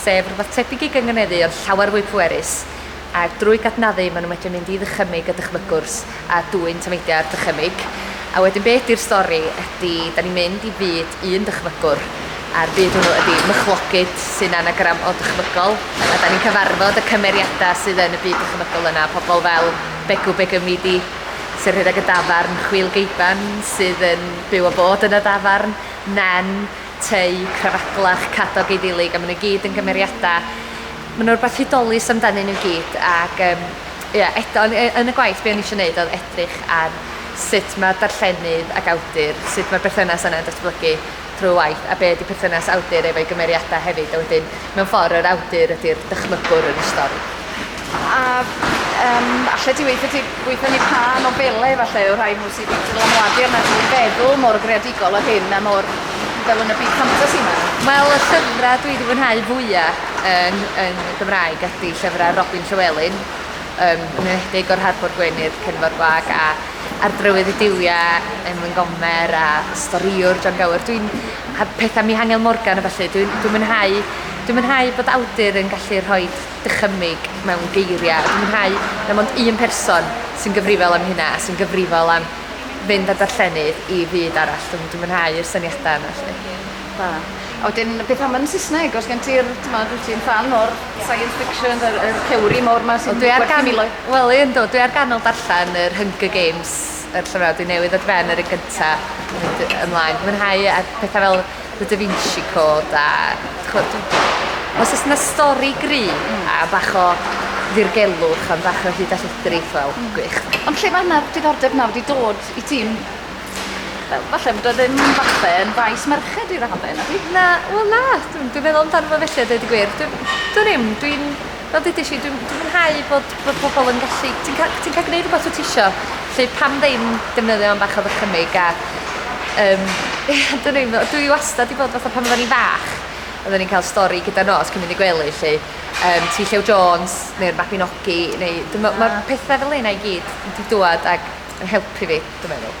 sef rhywbeth tebyg i gynganeddu ond llawer fwy pwerus, a drwy gadnaddu maen nhw'n medru mynd i ddychymyg a dychmygwrs a dwyn tameidiau o'r dychymyg, a wedyn be ydy'r stori ydy da ni'n mynd i fyd un dychmygwr, a'r byd hwnnw ydy mychlogyd sy'n anagram o dychmygol, a da ni'n cyfarfod y cymeriadau sydd yn y byd dychmygol yna, pobl fel Begw Begymidi sy'n rhedeg y dafarn, Chwil Geiban sydd yn byw a bod yn y ddafarn, Nen, tei, crafaglach, cadog eiddilig, a maen nhw i gyd yn gymeriadau, maen nhw rhywbeth hudolus amdanyn nhw i gyd, ac um, ia, eto, yn, yn y gwaith be o'n i eisiau gwneud oedd edrych ar sut mae darllenydd ac awdur, sut mae'r berthynas yna'n datblygu trwy waith, a be ydy perthynas awdur efo'i gymeriadau hefyd, a wedyn Mewn ffordd, yr awdur ydy'r dychmygwr yn y stori. A um, allai ti weithio ti gweithio ni pa nofelau efallai o rhai nhw sydd wedi dylanwadu arna ti i feddwl mor greadigol o hyn a mor fel yn y byd ffantasi yma? Wel, y llyfrau dwi wedi fwynhau fwyaf yn, yn Gymraeg ydy llyfrau Robin Llywelyn, um, yn enedig o'r Harbwr Gwenydd, Cenfor Gwag a Ardrywydd y Duwiau, Emlyn Gomer a Storiwr John Gower. Dwi'n a pethau Mihangel Morgan a ballu. Dwi'n dwi mwynhau, dwi'n mwynhau bod awdur yn gallu rhoi dychymyg mewn geiriau. Dwi'n mwynhau na mond un person sy'n gyfrifol am hynna a sy'n gyfrifol am fynd â'r darllenydd i fyd arall. Dwi'n dwi mwynhau yr syniadau yna. Felly. Da. A wedyn, beth am yn Saesneg? Os gen ti'r, ti'n ti'n fan o'r science fiction, yr, yr theori mawr yma sy'n... Wel, dwi ar gan... Wel, un do, dwi ar ganol darllen yr Hunger Games yr llyfrau dwi newydd ar ben yr un gynta mynd ymlaen. Dwi'n mwynhau a pethau fel The Da Vinci Code a chwod, os oes yna stori gry mm. a bach o ddirgelwch am bach o hyd a llethrith, wel, mm. gwych. Ond lle mae yna diddordeb nawr wedi dod i ti'n fel, falle bod o ddim falle yn faes merched i raddau, na di? Na, wel na, dwi'n dwi meddwl amdano fo felly, dweud y gwir. Dwi'n dwi ddim, dwi'n fel dudais i, dwi'n dwi mwynhau bod, bod pobl yn gallu... Ti'n cael, ti cael gwneud rhywbeth wyt ti isio, lle pam ddim defnyddio am bach o ddychymyg a... Um, dyn nhw'n meddwl, dwi wastad i fod fatha pan oedden ni fach, oedden ni'n cael stori gyda nos cyn mynd i gwely, lle um, ti Llew Jones neu'r Mabinogi, neu... Mae'r pethau fel yna i gyd wedi dwad ac yn helpu fi, dwi'n meddwl.